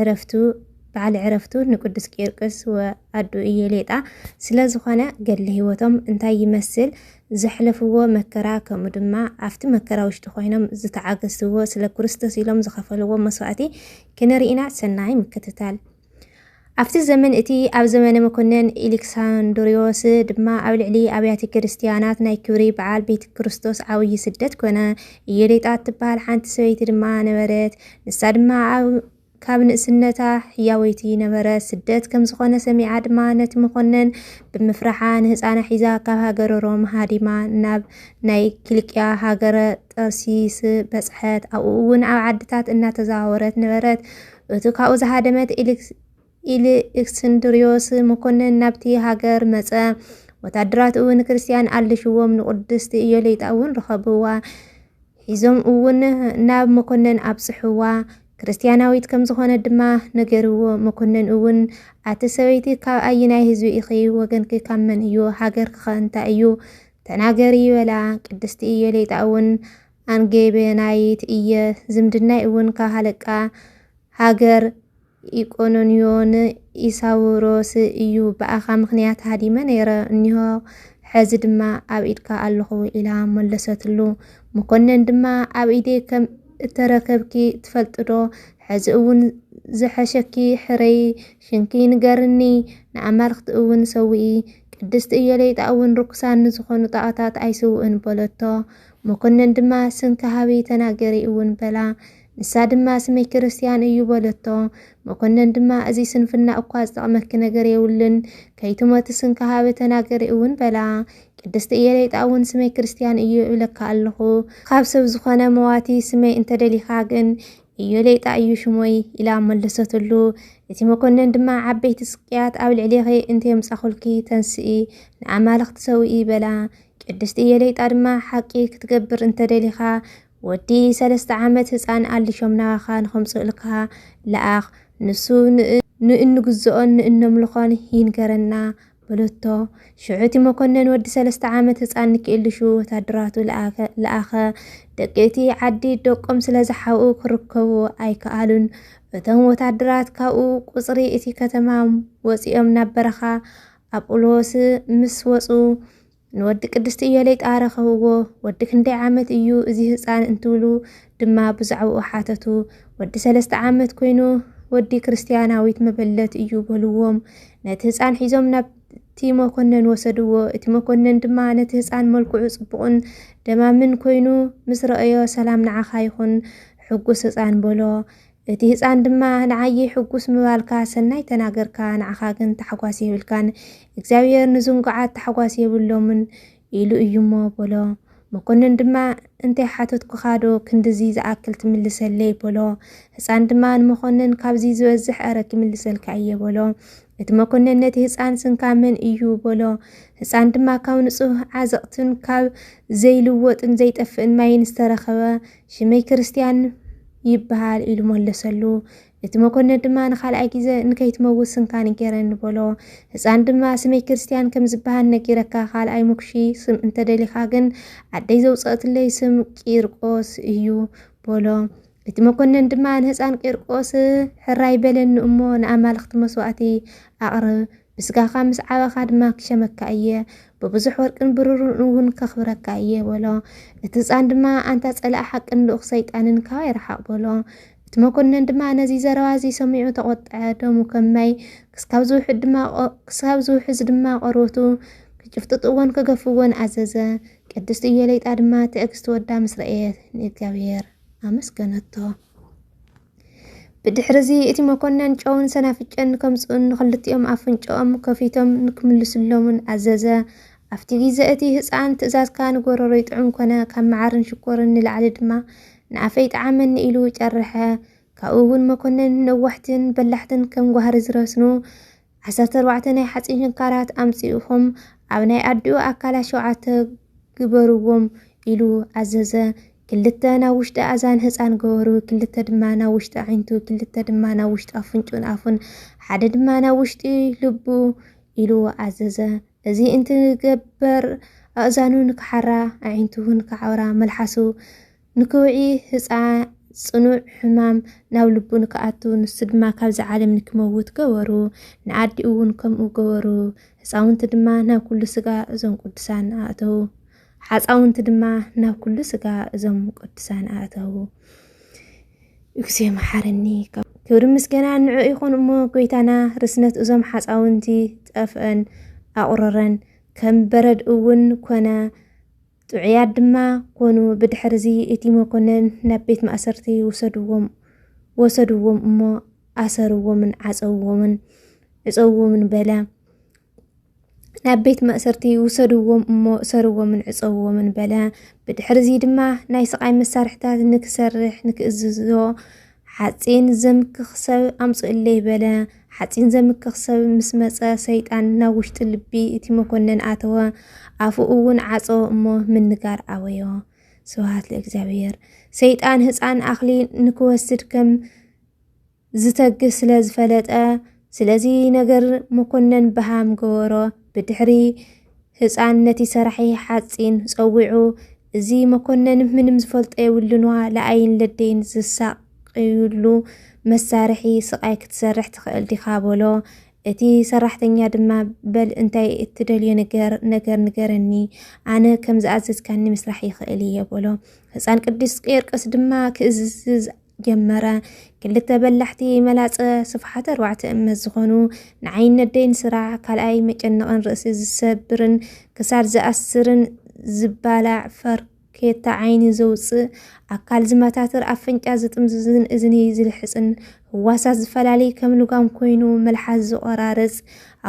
ዕረፍቱ በዓል ዕረፍቱ ንቅዱስ ቂርቅስ ወኣዱ ኢየሌጣ ስለ ዝኾነ ገድሊ ሕይወቶም እንታይ ይመስል፣ ዘሕለፍዎ መከራ ከምኡ ድማ ኣብቲ መከራ ውሽጢ ኮይኖም ዝተዓገስዎ ስለ ክርስቶስ ኢሎም ዝኸፈልዎ መስዋእቲ ክንርኢ ኢና። ሰናይ ምክትታል። ኣብቲ ዘመን እቲ ኣብ ዘመነ መኮነን ኤሌክሳንድሪዮስ ድማ ኣብ ልዕሊ ኣብያተ ክርስትያናት ናይ ክብሪ በዓል ቤተ ክርስቶስ ዓብዪ ስደት ኮነ። ኢየሌጣ እትበሃል ሓንቲ ሰበይቲ ድማ ነበረት። ንሳ ድማ ኣብ ካብ ንእስነታ ሕያወይቲ ነበረት። ስደት ከም ዝኾነ ሰሚዓ ድማ ነቲ መኮነን ብምፍራሓ ንህፃና ሒዛ ካብ ሃገረ ሮም ሃዲማ ናብ ናይ ኪልቅያ ሃገረ ጠርሲስ በጽሐት። ኣብኡ እውን ኣብ ዓድታት እናተዘዋወረት ነበረት። እቱ ካብኡ ዝሃደመት ኢልክስንድርዮስ መኮንን ናብቲ ሃገር መጸ። ወታደራት እውን ክርስትያን ኣልሽዎም ንቅድስቲ ኢዮሌጣ እውን ረኸብዋ። ሒዞም እውን ናብ መኮነን ኣብጽሕዋ ክርስትያናዊት ከም ዝኾነ ድማ ነገርዎ። መኮነን እውን ኣቲ ሰበይቲ ካብ ኣይናይ ህዝቢ ኢኺ ወገንኪ ካብ መን እዩ ሃገርኪ ከ እንታይ እዩ ተናገሪ በላ። ቅድስቲ ኢዮሌጣ እውን ኣንጌቤናይት እየ ዝምድናይ እውን ካብ ሃለቃ ሃገር ኢቆኖንዮ ን ኢሳውሮስ እዩ ብኣኻ ምኽንያት ሃዲመ ነይረ እኒሆ ሐዚ ድማ ኣብ ኢድካ ኣለኹ ኢላ መለሰትሉ መኮነን ድማ ኣብ ኢደይ ከም እተረከብኪ ትፈልጥዶ ሐዚ እውን ዝሐሸኪ ሕረዪ ሽምኪ ንገርኒ ንኣማልኽቲ እውን ሰውኢ ቅድስቲ እዮለይጣ እውን ርኩሳን ንዝኾኑ ጣኦታት ኣይስውእን በለቶ መኮነን ድማ ስምኪ ሃቢ ተናገሪ እውን በላ ንሳ ድማ ስመይ ክርስትያን እዩ በለቶ። መኮነን ድማ እዚ ስንፍና እኳ ዝጠቕመኪ ነገር የብሉን፣ ከይትሞቲ ስንኪ ሃበ ተናገሪ እውን በላ። ቅድስቲ እየሌጣ እውን ስመይ ክርስትያን እዩ እብለካ ኣለኹ፣ ካብ ሰብ ዝኾነ መዋቲ ስመይ እንተደሊኻ ግን እዮሌጣ እዩ ሽሞይ ኢላ መለሰትሉ። እቲ መኮነን ድማ ዓበይቲ ስቅያት ኣብ ልዕሌኺ እንተየምጻኹልኪ ተንስኢ ንኣማልኽቲ ሰውኢ በላ። ቅድስቲ እየሌጣ ድማ ሓቂ ክትገብር እንተደሊኻ ወዲ ሰለስተ ዓመት ህፃን ኣሊሾም ናባኻ ንኸምፅኡልካ ለኣኽ፣ ንሱ ንእንግዝኦን ንእነምልኾን ይንገረና በለቶ። ሽዑ እቲ መኮነን ወዲ ሰለስተ ዓመት ህፃን ንኪእልሹ ወታደራቱ ለኣኸ። ደቂ እቲ ዓዲ ደቆም ስለ ዝሓብኡ ክርከቡ ኣይከኣሉን። እቶም ወታደራት ካብኡ ቁፅሪ እቲ ከተማ ወፂኦም ናብ በረኻ ኣጵሎስ ምስ ወፁ ንወዲ ቅድስቲ እዮለይ ጣረኸውዎ፣ ወዲ ክንደይ ዓመት እዩ እዚ ህጻን እንትብሉ ድማ ብዛዕባኡ ሓተቱ። ወዲ ሰለስተ ዓመት ኮይኑ ወዲ ክርስትያናዊት መበለት እዩ በልዎም። ነቲ ህጻን ሒዞም ናብ እቲ መኮነን ወሰድዎ። እቲ መኮነን ድማ ነቲ ህፃን መልክዑ ጽቡቕን ደማምን ኮይኑ ምስ ረኣዮ ሰላም ንዓኻ ይኹን ሕጉስ ህፃን በሎ። እቲ ህጻን ድማ ንዓየ ሕጉስ ምባልካ ሰናይ ተናገርካ ንዓኻ ግን ታሕጓስ የብልካን እግዚኣብሔር ንዝንጉዓት ታሕጓስ የብሎምን ኢሉ እዩሞ በሎ መኮንን ድማ እንታይ ሓተትኩኻ ዶ ክንድዚ ዝኣክል ትምልሰለይ በሎ ህጻን ድማ ንመኮንን ካብዚ ዝበዝሕ ኣረ ክምልሰልካ እየ በሎ እቲ መኮንን ነቲ ህፃን ስንካ መን እዩ በሎ ህፃን ድማ ካብ ንፁህ ዓዘቕትን ካብ ዘይልወጥን ዘይጠፍእን ማይን ዝተረኸበ ሽመይ ክርስትያን ይበሃል ኢሉ መለሰሉ። እቲ መኮነን ድማ ንኻልኣይ ግዜ ንከይትመውት ስንካን ገረኒ በሎ። ህፃን ድማ ስመይ ክርስትያን ከም ዝበሃል ነጊረካ ካልኣይ ምኩሺ ስም እንተደሊኻ ግን ኣደይ ዘውፀእትለይ ስም ቂርቆስ እዩ በሎ። እቲ መኮነን ድማ ንህፃን ቂርቆስ ሕራይ በለኒ እሞ ንኣማልኽቲ መስዋእቲ ኣቕርብ ብስጋኻ ምስ ዓበኻ ድማ ክሸመካ እየ፣ ብብዙሕ ወርቅን ብሩርን እውን ከኽብረካ እየ በሎ። እቲ ህፃን ድማ ኣንታ ፀላኢ ሓቅን ልኡኽ ሰይጣንን ካባይ ርሓቕ በሎ። እቲ መኮነን ድማ ነዚ ዘረባ እዚ ሰሚዑ ተቖጥዐ፣ ደሙ ከም ማይ ክስካብ ዝውሕድ ድማ ቆ- ክስካብ ዝውሕዝ ድማ ቆርበቱ ክጭፍጥጥዎን ክገፍዎን ኣዘዘ። ቅድስቲ ኢዮሌጣ ድማ ትዕግስቲ ወዳ ምስ ረኣየት ንእግዚኣብሔር ኣመስገነቶ። ብድሕርዚ እቲ መኮነን ጨውን ሰናፍጭን ከምጽኡን ንኽልቲኦም ኣፍንጭኦም ከፊቶም ንክምልስሎምን ኣዘዘ። ኣብቲ ግዜ እቲ ህጻን ትእዛዝካ ንጎረሮይ ጥዑም ኮነ፣ ካብ መዓርን ሽኮርን ንላዕሊ ድማ ንኣፈይ ጠዓመኒ ኢሉ ጨርሐ። ካብኡ እውን መኮነን ነዋሕትን በላሕትን ከም ጓህሪ ዝረስኑ ዓሰርተ ኣርባዕተ ናይ ሓጺን ሸንካራት ኣምጽኡኹም ኣብ ናይ ኣዲኡ ኣካላት ሸውዓተ ግበርዎም ኢሉ ኣዘዘ። ክልተ ናብ ውሽጢ ኣዛን ህጻን ገበሩ፣ ክልተ ድማ ናብ ውሽጢ ኣዒንቱ፣ ክልተ ድማ ናብ ውሽጢ ኣፍንጩን ኣፉን፣ ሓደ ድማ ናብ ውሽጢ ልቡ ኢሉ ኣዘዘ። እዚ እንትገበር ኣእዛኑ ንክሓራ፣ ኣዒንቱ እውን ክዓውራ፣ መልሓሱ ንክውዒ ህጻ ጽኑዕ ሕማም ናብ ልቡ ንክኣቱ ንሱ ድማ ካብዚ ዓለም ንክመውት ገበሩ። ንኣዲኡ እውን ከምኡ ገበሩ። ህጻውንቲ ድማ ናብ ኩሉ ስጋ እዞም ቅዱሳን ኣእተዉ። ሓጻውንቲ ድማ ናብ ኩሉ ስጋ እዞም ቅዱሳን ኣእተዉ። እግዚኦ መሓረኒ ክብሪ ምስገና ንዑ ይኹን እሞ ጎይታና ርስነት እዞም ሓፃውንቲ ጠፍአን ኣቑረረን ከም በረድ እውን ኮነ ጥዑያት ድማ ኮኑ። ብድሕርዚ እቲ መኮነን ናብ ቤት ማእሰርቲ ውሰድዎም ወሰድዎም እሞ ኣሰርዎምን ዓጸውዎምን ዕጸውዎምን በለ። ናብ ቤት ማእሰርቲ ውሰድዎም እሞ እሰርዎምን ዕጸውዎምን በለ። ብድሕርዚ ድማ ናይ ስቓይ መሳርሕታት ንክሰርሕ ንክእዝዞ ሓጺን ዘምክኽ ሰብ ኣምጽኡለይ በለ። ሓጺን ዘምክኽ ሰብ ምስ መጸ ሰይጣን ናብ ውሽጢ ልቢ እቲ መኮነን ኣተወ፣ ኣፉ እውን ዓጸወ እሞ ምንጋር ኣበዮ። ስብሃት ለእግዚኣብሔር። ሰይጣን ህጻን ኣኽሊ ንክወስድ ከም ዝተግህ ስለ ዝፈለጠ ስለዚ ነገር መኮነን በሃም ገበሮ ብድሕሪ ህፃን ነቲ ሰራሒ ሓፂን ፀዊዑ እዚ መኮነን ምንም ዝፈልጦ የብሉንዋ ለኣይን ለደይን ዝሳቅዩሉ መሳርሒ ስቃይ ክትሰርሕ ትኽእል ዲኻ በሎ እቲ ሰራሕተኛ ድማ በል እንታይ እትደልዮ ነገር ነገር ንገረኒ ኣነ ከም ዝኣዘዝካኒ ምስራሕ ይኽእል እየ በሎ ህፃን ቅዱስ ቄርቅስ ድማ ክእዝዝ ጀመረ። ክልተ በላሕቲ መላጸ ስፍሓት ኣርባዕተ እመት ዝኾኑ ንዓይን ነደይን ስራሕ ካልኣይ መጨነቕን ርእሲ ዝሰብርን ክሳድ ዝኣስርን ዝባላዕ ፈርኬታ ዓይኒ ዘውጽእ ኣካል ዝመታትር ኣፍንጫ ዝጥምዝዝን እዝኒ ዝልሕጽን ህዋሳት ዝፈላልይ ከም ልጓም ኮይኑ መልሓስ ዝቆራርጽ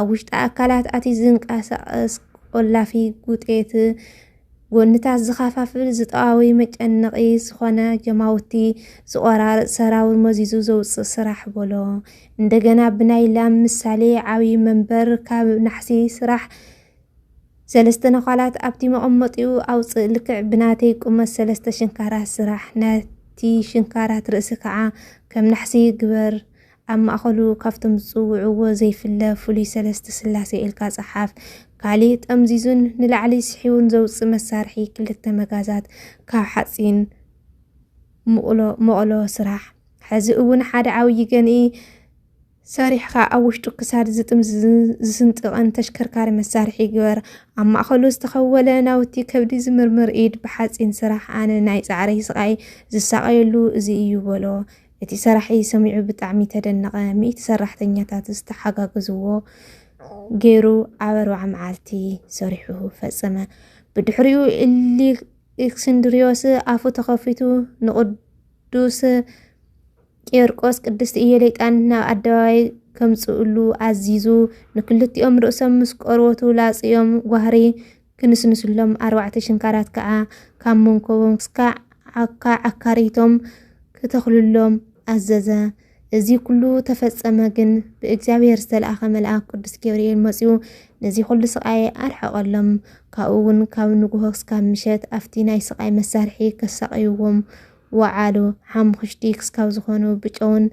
ኣብ ውሽጢ ኣካላት ኣቲ ዝንቀሳቐስ ቆላፊ ጉጤት ጎንታት ዝኸፋፍል ዝጠዋዊ መጨነቒ ዝኾነ ጀማውቲ ዝቆራርፅ ሰራዊ መዚዙ ዘውፅእ ስራሕ በሎ። እንደገና ብናይ ላም ምሳሌ ዓብዪ መንበር ካብ ናሕሲ ስራሕ ሰለስተ ነዃላት ኣብቲ መቐመጢኡ ኣውፅእ ልክዕ ብናተይ ቁመት ሰለስተ ሽንካራት ስራሕ ነቲ ሽንካራት ርእሲ ከዓ ከም ናሕሲ ግበር ኣብ ማእኸሉ ካብቶም ዝፅውዕዎ ዘይፍለ ፍሉይ ሰለስተ ስላሴ ኢልካ ፀሓፍ። ካሊእ ጠምዚዙን ንላዕሊ ስሒቡን ዘውፅእ መሳርሒ ክልተ መጋዛት ካብ ሓፂን መቕሎ ስራሕ። ሕዚ እውን ሓደ ዓብዪ ገንኢ ሰሪሕኻ ኣብ ውሽጡ ክሳድ ዝጥምዝዝን ዝስንጥቕን ተሽከርካሪ መሳርሒ ግበር። ኣብ ማእኸሉ ዝተኸወለ ናውቲ ከብዲ ዝምርምር ኢድ ብሓፂን ስራሕ። ኣነ ናይ ፃዕረይ ስቓይ ዝሳቐየሉ እዚ እዩ በሎ። እቲ ሰራሒ ሰሚዑ ብጣዕሚ ተደነቐ። ሚእቲ ሰራሕተኛታት ዝተሓጋገዝዎ ገይሩ ኣብ ኣርብዓ መዓልቲ ሰሪሑ ፈጸመ። ብድሕሪኡ እልክስንድርዮስ ኣፉ ተኸፊቱ ንቅዱስ ቄርቆስ ቅድስቲ ኢየሌጣን ናብ ኣደባባይ ከምጽእሉ ኣዚዙ ንክልቲኦም ርእሶም ምስ ቆርበቱ ላጽዮም ጓህሪ ክንስንስሎም፣ ኣርባዕተ ሽንካራት ከኣ ካብ መንኮቦም ክሳዕ ዓካ ዓካሪቶም ክተኽሉሎም ኣዘዘ። እዚ ኩሉ ተፈጸመ ግን ብእግዚኣብሔር ዝተልኣኸ መልኣክ ቅዱስ ገብርኤል መጺኡ ነዚ ኩሉ ስቃይ ኣርሓቀሎም። ካብኡ ውን ካብ ንጉሆ ክሳብ ምሸት ኣብቲ ናይ ስቃይ መሳርሒ ከሳቅይዎም ወዓሉ። ሓሙኽሽቲ ክሳብ ዝኾኑ ብጨውን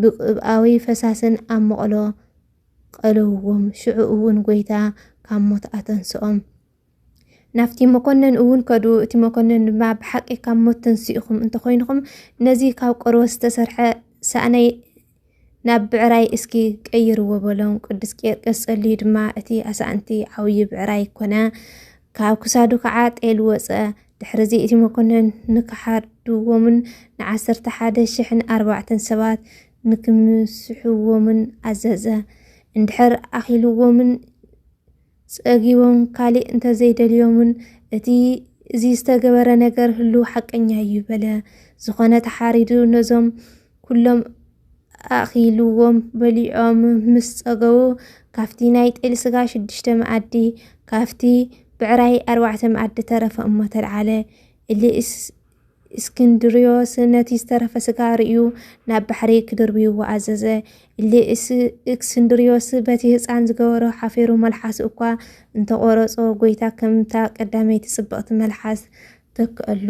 ብቅብኣዊ ፈሳስን ኣብ መቅሎ ቐለውዎም፣ ሽዑ እውን ጐይታ ካብ ሞት ኣተንስኦም። ናብቲ መኮነን እውን ከዱ፣ እቲ መኮነን ድማ ብሓቂ ካብ ሞት ተንሲእኹም እንተኾይንኹም ነዚ ካብ ቆርበት ዝተሰርሐ ሳእነይ ናብ ብዕራይ እስኪ ቀይርዎ በሎም። ቅዱስ ቄርቅስ ጸልዩ ድማ እቲ ኣሳእንቲ ዓብዪ ብዕራይ ኮነ፣ ካብ ክሳዱ ከዓ ጤል ወፀ። ድሕርዚ እቲ መኮነን ንክሓድዎምን ንዓሰርተ ሓደ ሽሕን ኣርባዕተን ሰባት ንክምስሕዎምን ኣዘዘ። እንድሕር ኣኺልዎምን ጸጊቦም ካልእ እንተ ዘይደልዮምን፣ እቲ እዚ ዝተገበረ ነገር ህሉው ሓቀኛ እዩ በለ። ዝኾነ ተሓሪዱ ነዞም ኩሎም ኣኺልዎም በሊዖም ምስ ጸገቡ፣ ካብቲ ናይ ጤል ስጋ ሽዱሽተ መኣዲ፣ ካብቲ ብዕራይ ኣርባዕተ መኣዲ ተረፈ እሞ ተልዓለ። እሊ እስክንድርዮስ ነቲ ዝተረፈ ስጋ ርእዩ ናብ ባሕሪ ክድርብይዎ ኣዘዘ። እሊ እስክንድርዮስ በቲ ህፃን ዝገበሮ ሓፊሩ መልሓሱ እኳ እንተቆረጾ ጎይታ ከምታ ቀዳመይቲ ጽብቕቲ መልሓስ ተክኣሉ።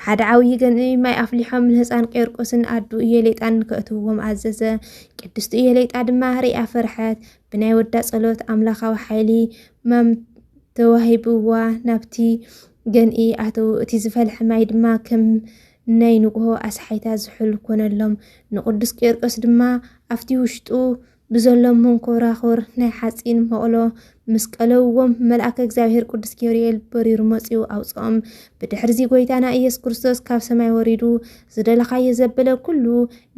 ሓደ ዓብዪ ገንኢ ማይ ኣፍሊሖም ንህፃን ቄርቆስን ኣዱ እየሌጣን ከእትውዎም ኣዘዘ። ቅድስቲ እየሌጣ ድማ ሪኣ ፈርሐት። ብናይ ወዳ ጸሎት ኣምላኻዊ ሓይሊ ማም ተዋሂብዋ ናብቲ ገንኢ ኣተው እቲ ዝፈልሐ ማይ ድማ ከም ናይ ንግሆ ኣስሓይታ ዝሑል ኮነሎም። ንቅዱስ ቂርቆስ ድማ ኣብቲ ውሽጡ ብዘሎ መንኮራኹር ናይ ሓፂን መቕሎ ምስ ቀለውዎም መልኣከ እግዚኣብሔር ቅዱስ ገብርኤል በሪሩ መፂኡ ኣውፅኦም። ብድሕርዚ ጎይታና ኢየሱስ ክርስቶስ ካብ ሰማይ ወሪዱ ዝደለኻዮ ዘበለ ኩሉ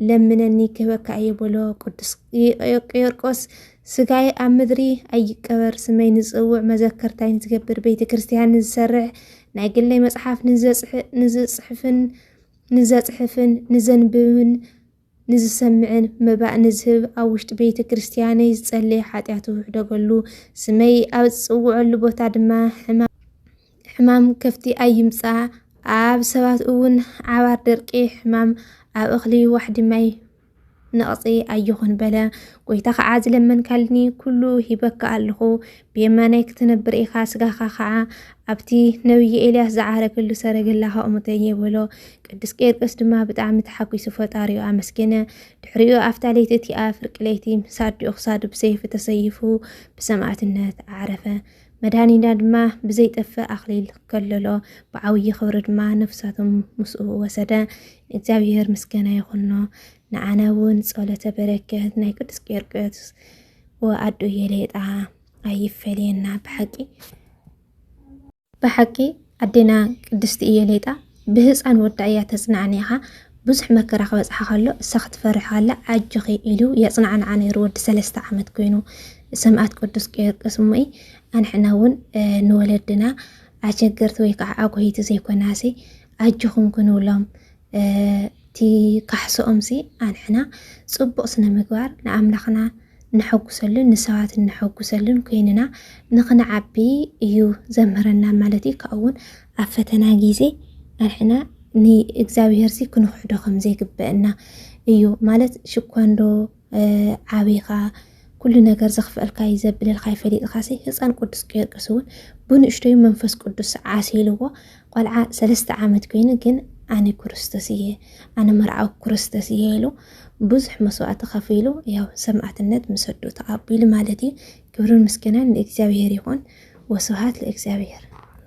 ለምነኒ ክህበካ እየ በሎ። ቅዱስ ቂርቆስ ስጋይ ኣብ ምድሪ ኣይቀበር ስመይ ንጽውዕ መዘከርታይ ንዝገብር ቤተ ክርስቲያን ንዝሰርሕ ናይ ግለይ መጽሓፍ ንዝጽሕፍን ንዘጽሕፍን ንዘንብብን ንዝሰምዕን መባእ ንዝህብ ኣብ ውሽጢ ቤተ ክርስቲያነይ ዝጸለየ ሓጢኣቱ ውሕደገሉ ስመይ ኣብ ዝጽውዐሉ ቦታ ድማ ሕማም ከፍቲ ኣይምጻ ኣብ ሰባት እውን ዓባር ደርቂ ሕማም ኣብ እኽሊ ዋሕዲ ማይ ነቕጺ ኣይኹን በለ። ጎይታ ኸዓ ዝለመንካልኒ ኩሉ ሂበካ ኣለኹ፣ ብየማናይ ክትነብር ኢኻ፣ ስጋኻ ኸዓ ኣብቲ ነብዪ ኤልያስ ዝዓረገሉ ሰረገላ ከእሙተየ በሎ። ቅዱስ ቄርቅስ ድማ ብጣዕሚ ተሓጒሱ ፈጣሪኡ ኣመስገነ። ድሕሪኡ ኣብታ ለይቲ እቲኣ ፍርቂ ለይቲ ምስ ኣዲኡ ክሳዱ ብሰይፊ ተሰይፉ ብሰማእትነት ዓረፈ። መድኃኒና ድማ ብዘይጠፍእ ኣኽሊል ከለሎ፣ ብዓብዪ ክብሪ ድማ ነፍሳቶም ምስኡ ወሰደ። ንእግዚኣብሔር ምስጋና ይኹኖ። ንኣነ እውን ጸሎተ በረከት ናይ ቅዱስ ቄርቆስ ወኣዱ የሌጣ ኣይፈለየና ብሓቂ ብሓቂ ኣዴና ቅድስቲ እየሌጣ ብህፃን ወዳ እያ ተፅናዕኒኻ ብዙሕ መከራ ክበፅሓ ከሎ እሳ ክትፈርሕ ከላ ኣጆኺ ኢሉ የፅናዕንዓ ነይሩ ወዲ ሰለስተ ዓመት ኮይኑ ሰማእት ቅዱስ ቂርቅስ እሞይ ኣንሕና እውን ንወለድና ኣሸገርቲ ወይ ከዓ ኣጎይቲ ዘይኮናሲ ኣጆኹም ክንብሎም እቲ ካሕሶኦም ሲ ኣንሕና ፅቡቕ ስነ ምግባር ንኣምላኽና እነሐጉሰሉን ንሰባት እነሐጉሰሉን ኮይንና ንክንዓቢ እዩ ዘምህረና ማለት እዩ። ካብኡ እውን ኣብ ፈተና ግዜ ኣንሕና ንእግዚኣብሔር ሲ ክንክሕዶ ከም ዘይግበእና እዩ ማለት ሽኳንዶ ዓቢኻ ኩሉ ነገር ዘኽፍአልካ እዩ ዘብለልካ ይፈሊጥካ ሲ ህፃን ቅዱስ ጊዮርጊስ እውን ብንእሽተዩ መንፈስ ቅዱስ ዓሲልዎ ቆልዓ ሰለስተ ዓመት ኮይኑ ግን ኣነ ክርስቶስ እየ ኣነ መርዓዊ ክርስቶስ እየ ኢሉ ብዙሕ መስዋእቲ ከፊሉ ያው ሰማዕትነት ምሰዱ ተቐቢሉ ማለት እዩ። ክብርን ምስጋናን ንእግዚኣብሔር ይኹን ወስብሃት ለእግዚኣብሔር።